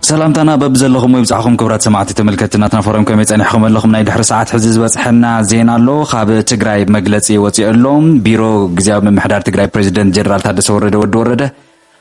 ሰላምታና በብዘለኹም ወይ ብጻዕኹም ክብራት ሰማዕቲ ተመልከቲ ናትና ፎረም ከመይ ጸኒሕኩም ኣለኹም ናይ ድሕሪ ሰዓት ሕዚ ዝበጽሐና ዜና ኣሎ ካብ ትግራይ መግለጺ ወጺኦ ኣሎ ቢሮ ግዜያዊ ምምሕዳር ትግራይ ፕሬዚደንት ጀነራል ታደሰ ወረደ ወዲ ወረደ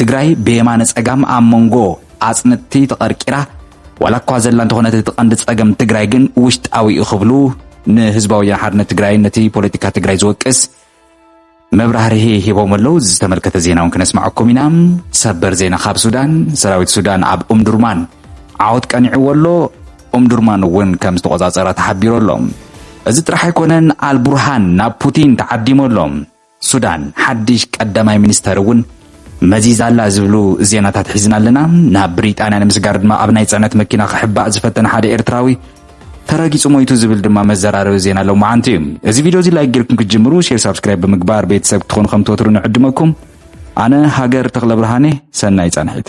ትግራይ ብየማነ ጸጋም ኣብ መንጎ ኣጽንትቲ ተቐርቂራ ዋላ እኳ ዘላ እንተኾነት እቲ ቀንዲ ጸገም ትግራይ ግን ውሽጣዊ እዩ ክብሉ ንህዝባዊ ወያነ ሓርነት ትግራይን ነቲ ፖለቲካ ትግራይ ዝወቅስ መብራህርሂ ሂቦም ኣለዉ ዝተመልከተ ዜና እውን ክነስማዐኩም ኢና ሰበር ዜና ካብ ሱዳን ሰራዊት ሱዳን ኣብ ኡምዱርማን ዓወት ቀኒዕዎ ኣሎ ኡምዱርማን እውን ከም ዝተቆፃፀራ ተሓቢሩ ኣሎ እዚ ጥራሕ ኣይኮነን ኣልቡርሃን ናብ ፑቲን ተዓዲሙ ኣሎ ሱዳን ሓድሽ ቀዳማይ ሚኒስተር እውን መዚዛ ኣላ ዝብሉ ዜናታት ሒዝና ኣለና። ናብ ብሪጣንያ ንምስጋር ድማ ኣብ ናይ ጽዕነት መኪና ክሕባእ ዝፈተነ ሓደ ኤርትራዊ ተረጊጹ ሞይቱ ዝብል ድማ መዘራረቢ ዜና ሎማዓንቲ እዩ እዚ ቪድዮ እዚ ላይክ ጌርኩም ክትጅምሩ ሼር ሳብስክራይብ ብምግባር ቤተሰብ ክትኾኑ ከም ትወትሩ ንዕድመኩም ኣነ ሃገር ተኽለ ብርሃኔ ሰናይ ጻንሒት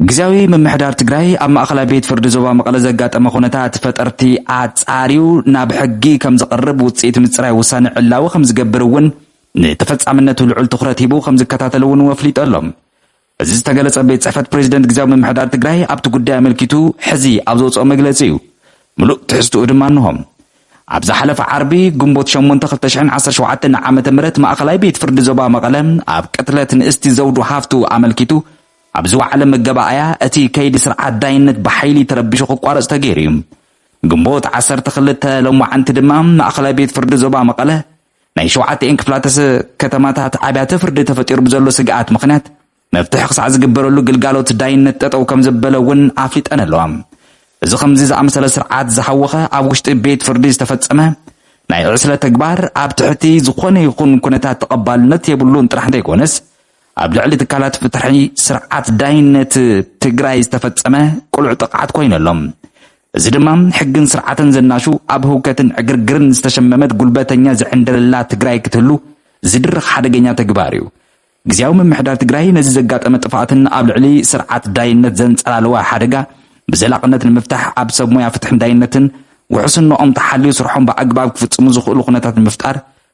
ግዝያዊ ምምሕዳር ትግራይ ኣብ ማእኸላይ ቤት ፍርዲ ዞባ መቐለ ዘጋጠመ ኩነታት ፈጠርቲ ኣፃርዩ ናብ ሕጊ ከምዝቕርብ ውፅኢት ምፅራይ ውሳነ ዕላዊ ከምዝገብር እውን ንተፈፃምነቱ ልዑል ትኹረት ሂቡ ከምዝከታተል እውን ወፍሊጡ ኣሎ። እዚ ዝተገለፀ ቤት ፅሕፈት ፕሬዚደንት ግዝያዊ ምምሕዳር ትግራይ ኣብቲ ጉዳይ ኣመልኪቱ ሕዚ ኣብ ዘውፅኦ መግለፂ እዩ። ምሉእ ትሕዝትኡ ድማ እንሆ። ኣብ ዝሓለፈ ዓርቢ ግንቦት 8 2017 ዓ ም ማእኸላይ ቤት ፍርዲ ዞባ መቐለ ኣብ ቅትለት ንእስቲ ዘውዱ ሃፍቱ ኣመልኪቱ ኣብ ዝወዓለ መገባኣያ እቲ ከይዲ ስርዓት ዳይነት ብሓይሊ ተረቢሹ ክቋረፅ ተገይሩ እዩ። ግንቦት ዓሰርተ ክልተ ሎማዕንቲ ድማ ማእኸላይ ቤት ፍርዲ ዞባ መቐለ ናይ ሸውዓተኤን ክፍላተ ከተማታት ኣብያተ ፍርዲ ተፈጢሩ ብዘሎ ስግኣት ምኽንያት መፍትሒ ክሳዕ ዝግበረሉ ግልጋሎት ዳይነት ጠጠው ከምዘበለ እውን ኣፍሊጠን ኣለዋ። እዚ ከምዚ ዝኣመሰለ ስርዓት ዝሃወኸ ኣብ ውሽጢ ቤት ፍርዲ ዝተፈፀመ ናይ ዕስለ ተግባር ኣብ ትሕቲ ዝኾነ ይኹን ኩነታት ተቐባልነት የብሉን ጥራሕ እንተይኮነስ ኣብ ልዕሊ ትካላት ፍትሒ ስርዓት ዳይነት ትግራይ ዝተፈፀመ ቅሉዕ ጥቕዓት ኮይኑ ኣሎ። እዚ ድማ ሕግን ስርዓትን ዘናሹ ኣብ ህውከትን ዕግርግርን ዝተሸመመት ጉልበተኛ ዝዕንደረላ ትግራይ ክትህሉ ዝድርኽ ሓደገኛ ተግባር እዩ። ግዝያዊ ምምሕዳር ትግራይ ነዚ ዘጋጠመ ጥፍኣትን ኣብ ልዕሊ ስርዓት ዳይነት ዘንፀላለወ ሓደጋ ብዘላቕነት ንምፍታሕ ኣብ ሰብ ሞያ ፍትሕን ዳይነትን ውሕስንኦም ተሓልዩ ስርሖም ብኣግባብ ክፍፅሙ ዝኽእሉ ኩነታት ንምፍጣር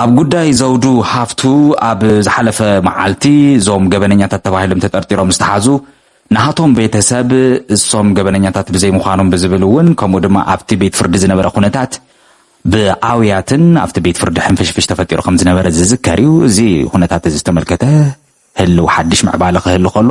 ኣብ ጉዳይ ዘውዱ ሃፍቱ ኣብ ዝሓለፈ መዓልቲ እዞም ገበነኛታት ተባሂሎም ተጠርጢሮም ዝተሓዙ ናሃቶም ቤተሰብ እሶም ገበነኛታት ብዘይምዃኖም ብዝብል እውን ከምኡ ድማ ኣብቲ ቤት ፍርዲ ዝነበረ ኩነታት ብኣውያትን ኣብቲ ቤት ፍርዲ ሕንፍሽፍሽ ተፈጢሩ ከም ዝነበረ ዝዝከር እዩ። እዚ ኩነታት እዚ ዝተመልከተ ህልው ሓድሽ ምዕባለ ክህሉ ከሎ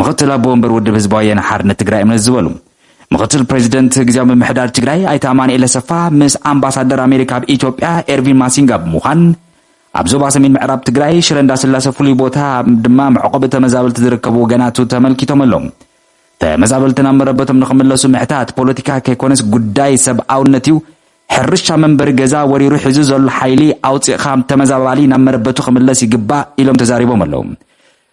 ምክትል ኣቦ ወንበር ውድብ ህዝባዊ ወያነ ሓርነት ትግራይ እምነት ዝበሉ ምክትል ፕሬዚደንት ግዜያዊ ምምሕዳር ትግራይ ኣይተ ኣማንኤል ኣሰፋ ምስ ኣምባሳደር ኣሜሪካ ኣብ ኢትዮጵያ ኤርቪን ማሲንጋ ብምዃን ኣብ ዞባ ሰሜን ምዕራብ ትግራይ ሽረ እንዳስላሰ ፍሉይ ቦታ ድማ መዕቆቢ ተመዛበልቲ ዝርከቡ ወገናቱ ተመልኪቶም ኣሎም ተመዛበልቲ ናብ መረበቶም ንክምለሱ ምሕታት ፖለቲካ ከይኮነስ ጉዳይ ሰብኣውነት እዩ ሕርሻ መንበሪ ገዛ ወሪሩ ሒዙ ዘሎ ሓይሊ ኣውፂእኻ ተመዛባሊ ናብ መረበቱ ክምለስ ይግባእ ኢሎም ተዛሪቦም ኣለው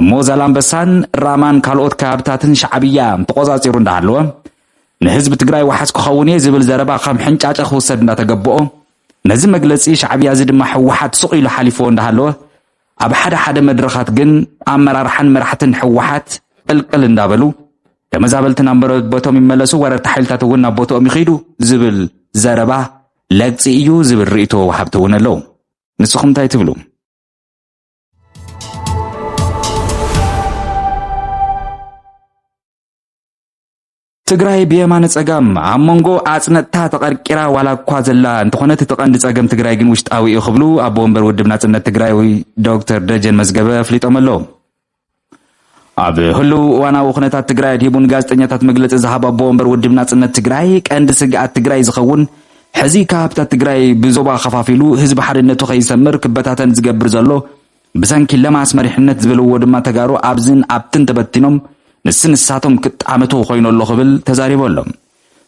እሞ ዛላምበሳን ራማን ካልኦት ከባብታትን ሻዕብያ ተቖጻጺሩ እንዳሃለወ ንህዝቢ ትግራይ ዋሕስ ክኸውን እየ ዝብል ዘረባ ከም ሕንጫጨ ክውሰድ እንዳተገበኦ ነዚ መግለጺ ሻዕብያ እዚ ድማ ህወሓት ስቕ ኢሉ ሓሊፍዎ እንዳሃለወ ኣብ ሓደ ሓደ መድረኻት ግን ኣመራርሓን መራሕትን ህወሓት ቅልቅል እንዳበሉ ተመዛበልቲ ናብ መረበቶም ይመለሱ፣ ወረርቲ ሓይልታት እውን ናብ ቦትኦም ይኸይዱ ዝብል ዘረባ ለግፂ እዩ ዝብል ርእቶ ወሃብቲ እውን ኣለዉ። ንስኹም እንታይ ትብሉ? ትግራይ ብየማነ ጸጋም ኣብ መንጎ ኣጽነጥታ ተቐርቂራ ዋላ እኳ ዘላ እንተኾነት እቲ ቀንዲ ጸገም ትግራይ ግን ውሽጣዊ እዩ ክብሉ ኣቦ ወንበር ውድብ ናጽነት ትግራይ ዶክተር ደጀን መዝገበ ኣፍሊጦም ኣለዉ ኣብ ህልው እዋናዊ ኩነታት ትግራይ ኣድሂቡ ንጋዜጠኛታት መግለፂ ዝሃብ ኣቦ ወንበር ውድብ ናፅነት ትግራይ ቀንዲ ስግኣት ትግራይ ዝኸውን ሕዚ ካሃብታት ትግራይ ብዞባ ከፋፊሉ ህዝቢ ሓድነቱ ከይሰምር ክበታተን ዝገብር ዘሎ ብሰንኪ ለማስ መሪሕነት ዝበልዎ ድማ ተጋሩ ኣብዝን ኣብትን ተበቲኖም ንስ ንሳቶም ክጣመቱ ኮይኑ ኣሎ ክብል ተዛሪቡ ኣሎ።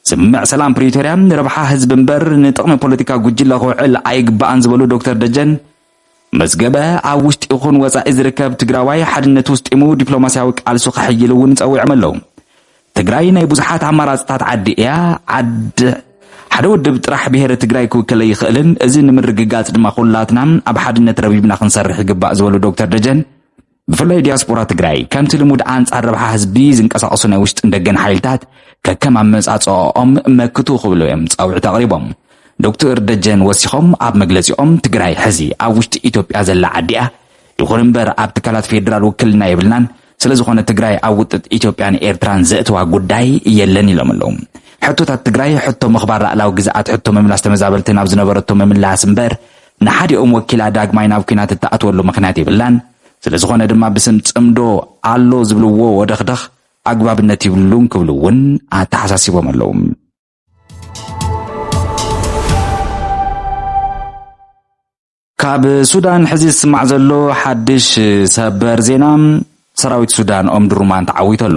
ስምምዕ ሰላም ፕሪቶርያ ንረብሓ ህዝቢ እምበር ንጥቕሚ ፖለቲካ ጉጅለ ክውዕል ኣይግባእን ዝበሉ ዶክተር ደጀን መዝገበ፣ ኣብ ውሽጢ ይኹን ወፃኢ ዝርከብ ትግራዋይ ሓድነት ውስጢሙ ዲፕሎማሲያዊ ቃልሱ ከሕይል እውን ፀዊዖም ኣለው። ትግራይ ናይ ብዙሓት ኣማራፅታት ዓዲ እያ፣ ዓድ ሓደ ውድብ ጥራሕ ብሄረ ትግራይ ክውክል ኣይኽእልን፣ እዚ ንምርግጋፅ ድማ ኩላትና ኣብ ሓድነት ረብሪብና ክንሰርሕ ይግባእ ዝበሉ ዶክተር ደጀን፣ ብፍላይ ዲያስፖራ ትግራይ ከምቲ ልሙድ ኣንጻር ረብሓ ህዝቢ ዝንቀሳቐሱ ናይ ውሽጥን ደገን ሓይልታት ከከም ኣመጻጽኦኦም መክቱ ክብሉ እዮም ጻውዒት ኣቕሪቦም። ዶክተር ደጀን ወሲኾም ኣብ መግለፂኦም ትግራይ ሕዚ ኣብ ውሽጢ ኢትዮጵያ ዘላ ዓዲ እያ፣ ይኹን እምበር ኣብ ትካላት ፌዴራል ውክልና የብልናን፣ ስለ ዝኾነ ትግራይ ኣብ ውጥጥ ኢትዮጵያን ኤርትራን ዘእትዋ ጉዳይ የለን ኢሎም ኣለዉ። ሕቶታት ትግራይ ሕቶ ምኽባር ላእላዊ ግዝኣት ሕቶ ምምላስ ተመዛበልቲ ናብ ዝነበረቶ ምምላስ እምበር ንሓዲኦም ወኪላ ዳግማይ ናብ ኲናት እትኣትወሉ ምኽንያት የብላን፣ ስለዝኾነ ድማ ብስም ጽምዶ ኣሎ ዝብልዎ ወደኽደኽ ኣግባብነት ይብሉን ክብሉ እውን ኣተሓሳሲቦም ኣለዉ። ካብ ሱዳን ሕዚ ዝስማዕ ዘሎ ሓድሽ ሰበር ዜና ሰራዊት ሱዳን ኦምድሩማን ተዓዊቶ ኣሎ።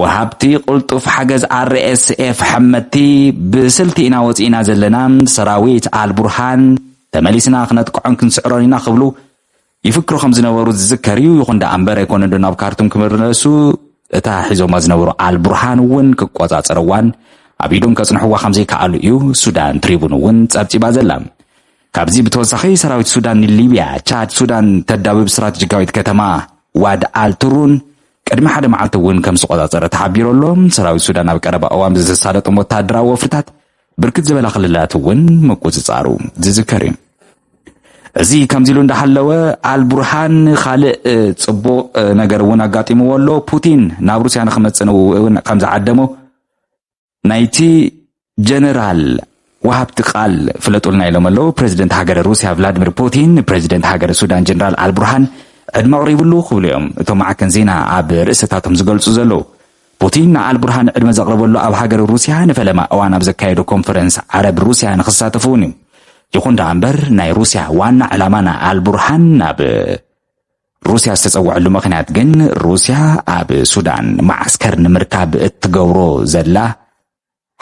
ወሃብቲ ቅልጡፍ ሓገዝ RSF ሐመድቲ ብስልቲ ኢና ወጺእና ዘለና፣ ሰራዊት ኣልቡርሃን ተመሊስና ክነጥቅዖን ክንስዕሮን ኢና ክብሉ ይፍክሩ ከም ዝነበሩ ዝዝከር እዩ። ይኹን ደኣ እምበር ኣይኮነንዶ ናብ ካርቱም ክምለሱ እታ ሒዞማ ዝነበሩ ኣልቡርሃን እውን ክቆጻጸርዋን ኣብ ኢዶም ከጽንሕዋ ከም ዘይከኣሉ እዩ ሱዳን ትሪቡን እውን ጸብጺባ ዘላ። ካብዚ ብተወሳኺ ሰራዊት ሱዳን ንሊብያ፣ ቻድ፣ ሱዳን ተዳብብ ስትራተጂካዊት ከተማ ዋድ ኣልትሩን ቅድሚ ሓደ መዓልቲ እውን ከም ዝተቖጻጸረ ተሓቢሩ ኣሎ። ሰራዊት ሱዳን ኣብ ቀረባ እዋን ብዝተሳለጦም ወተሃደራዊ ወፍርታት ብርክት ዝበላ ክልላት እውን ምቁጽጻሩ ዝዝከር እዩ። እዚ ከምዚ ኢሉ እንዳሃለወ ኣልቡርሃን ካልእ ጽቡቕ ነገር እውን ኣጋጢምዎ ኣሎ ፑቲን ናብ ሩስያ ንክመጽእ እውን ከም ዝዓደሞ ናይቲ ጀነራል ወሃብቲ ቃል ፍለጡልና ኢሎም ኣለዉ። ፕረዚደንት ሃገረ ሩስያ ቭላድሚር ፑቲን ንፕረዚደንት ሃገረ ሱዳን ጀነራል ኣልቡርሃን ዕድመ ኣቕሪብሉ ክብሉ እዮም እቶም ማዕከን ዜና ኣብ ርእሰታቶም ዝገልጹ ዘለዉ። ፑቲን ንኣልቡርሃን ዕድመ ዘቕረበሉ ኣብ ሃገረ ሩስያ ንፈለማ እዋን ኣብ ዘካየዶ ኮንፈረንስ ዓረብ ሩስያ ንክሳተፉ እውን እዩ። ይኹን ደኣ እምበር ናይ ሩስያ ዋና ዕላማ ንኣልቡርሃን ናብ ሩስያ ዝተጸውዐሉ ምኽንያት ግን ሩስያ ኣብ ሱዳን መዓስከር ንምርካብ እትገብሮ ዘላ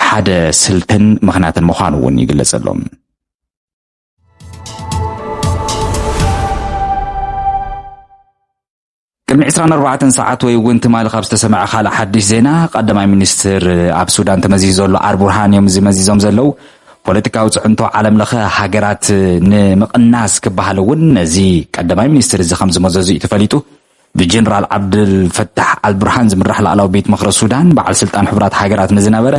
ሓደ ስልትን ምኽንያትን ምዃኑ እውን ይግለጸሉ ቅድሚ 24 ሰዓት ወይ እውን ትማሊ ካብ ዝተሰምዐ ካልእ ሓድሽ ዜና ቀዳማይ ሚኒስትር ኣብ ሱዳን ተመዚዙ ዘሎ ኣርቡርሃን እዮም እዚ መዚዞም ዘለው ፖለቲካዊ ፅዕንቶ ዓለም ለኸ ሃገራት ንምቕናስ ክበሃል እውን ነዚ ቀዳማይ ሚኒስትር እዚ ከም ዝመዘዙ እዩ ተፈሊጡ። ብጀነራል ዓብደልፈታሕ ኣልቡርሃን ዝምራሕ ላዕላዊ ቤት ምኽሪ ሱዳን በዓል ስልጣን ሕቡራት ሃገራት ንዝነበረ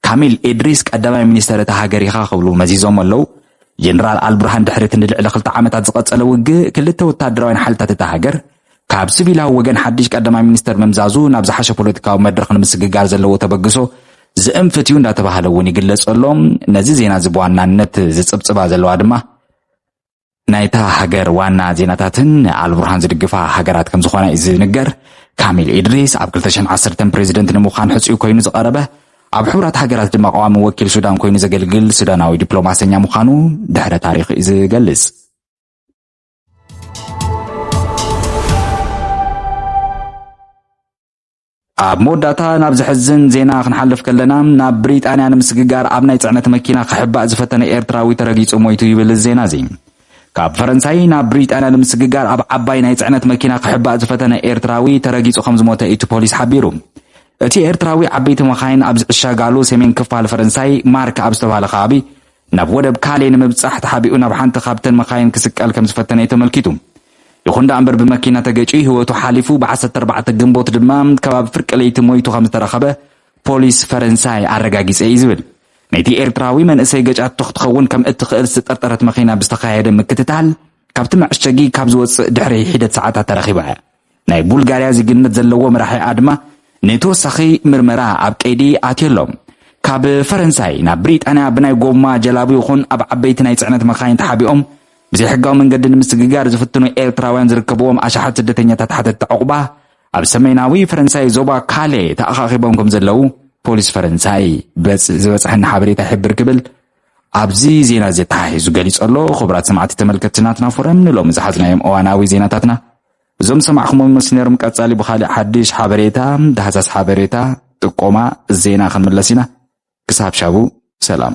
ካሚል ኤድሪስ ቀዳማይ ሚኒስተር እታ ሃገር ኢኻ ክብሉ መዚዞም ኣለው። ጀነራል ኣልቡርሃን ድሕሪ እቲ ንልዕሊ ክልተ ዓመታት ዝቐጸለ ውግእ ክልተ ወታደራውያን ሓይልታት እታ ሃገር ካብ ስቪላዊ ወገን ሓድሽ ቀዳማይ ሚኒስተር ምምዛዙ ናብ ዝሓሸ ፖለቲካዊ መድረኽ ንምስግጋር ዘለዎ ተበግሶ ዝእንፍት እዩ እንዳተባሃለ እውን ይግለጽ ኣሎ ነዚ ዜና እዚ ብዋናነት ዝጽብጽባ ዘለዋ ድማ ናይታ ሃገር ዋና ዜናታትን ኣልቡርሃን ዝድግፋ ሃገራት ከም ዝኾና እዩ ዝንገር ካሚል ኢድሪስ ኣብ 210 ፕሬዚደንት ንምዃን ሕፅኡ ኮይኑ ዝቐረበ ኣብ ሕቡራት ሃገራት ድማ ቀዋሚ ወኪል ሱዳን ኮይኑ ዘገልግል ሱዳናዊ ዲፕሎማሰኛ ምዃኑ ድሕረ ታሪክ እዩ ዝገልጽ ኣብ መወዳእታ ናብ ዘሕዝን ዜና ክንሓልፍ ከለና ናብ ብሪጣንያ ንምስግጋር ኣብ ናይ ጽዕነት መኪና ክሕባእ ዝፈተነ ኤርትራዊ ተረጊጹ ሞይቱ ይብል ዜና እዚ ካብ ፈረንሳይ ናብ ብሪጣንያ ንምስግጋር ኣብ ዓባይ ናይ ጽዕነት መኪና ክሕባእ ዝፈተነ ኤርትራዊ ተረጊጹ ከም ዝሞተ እቲ ፖሊስ ሓቢሩ እቲ ኤርትራዊ ዓበይቲ መኻይን ኣብ ዝዕሸጋሉ ሰሜን ክፋል ፈረንሳይ ማርክ ኣብ ዝተባሃለ ከባቢ ናብ ወደብ ካሌ ንምብጻሕ ተሓቢኡ ናብ ሓንቲ ካብተን መካይን ክስቀል ከም ዝፈተነ'ዩ ተመልኪቱ። ይኹን ደኣ'ምበር ብመኪና ተገጭዩ ህይወቱ ሓሊፉ፣ ብ ዓሰርተ ኣርባዕተ ግንቦት ድማ ከባቢ ፍርቂ ለይቲ ሞይቱ ከም ዝተረኸበ ፖሊስ ፈረንሳይ ኣረጋጊጸ'ዩ ዝብል ነቲ ኤርትራዊ መንእሰይ ገጫቶ ክትኸውን ከም እትኽእል ዝተጠርጠረት መኪና ብዝተኻየደ ምክትታል ካብቲ መዐሸጊ ካብ ዝወጽእ ድሕሪ ሒደት ሰዓታት ተረኺባ'ያ። ናይ ቡልጋርያ ዜግነት ዘለዎ መራሒኣ ድማ ንተወሳኺ ምርመራ ኣብ ቀይዲ ኣትዮ ኣሎ። ካብ ፈረንሳይ ናብ ብሪጣንያ ብናይ ጎማ ጀላቡ ይኹን ኣብ ዓበይቲ ናይ ጽዕነት መካይን ተሓቢኦም ብዘይሕጋዊ መንገዲ ንምስግጋር ዝፍትኑ ኤርትራውያን ዝርከብዎም ኣሽሓት ስደተኛታት ሓተትቲ ዕቑባ ኣብ ሰሜናዊ ፈረንሳይ ዞባ ካሌ ተኣኻኺቦም ከም ዘለዉ ፖሊስ ፈረንሳይ ዝበጽሐኒ ሓበሬታ ይሕብር ክብል ኣብዚ ዜና እዚ ተሓሒዙ ገሊጸሎ። ክቡራት ሰማዕቲ ተመልከትቲ ናትና ፎረም ንሎሚ ዝሓዝናዮም እዋናዊ ዜናታትና እዞም ዝሰማዕኹሞም ይመስሉ ነይሮም ቀጻሊ ብኻልእ ሓድሽ ሓበሬታ ዳህሳስ ሓበሬታ ጥቆማ ዜና ክንምለስ ኢና ክሳብ ሻቡ ሰላም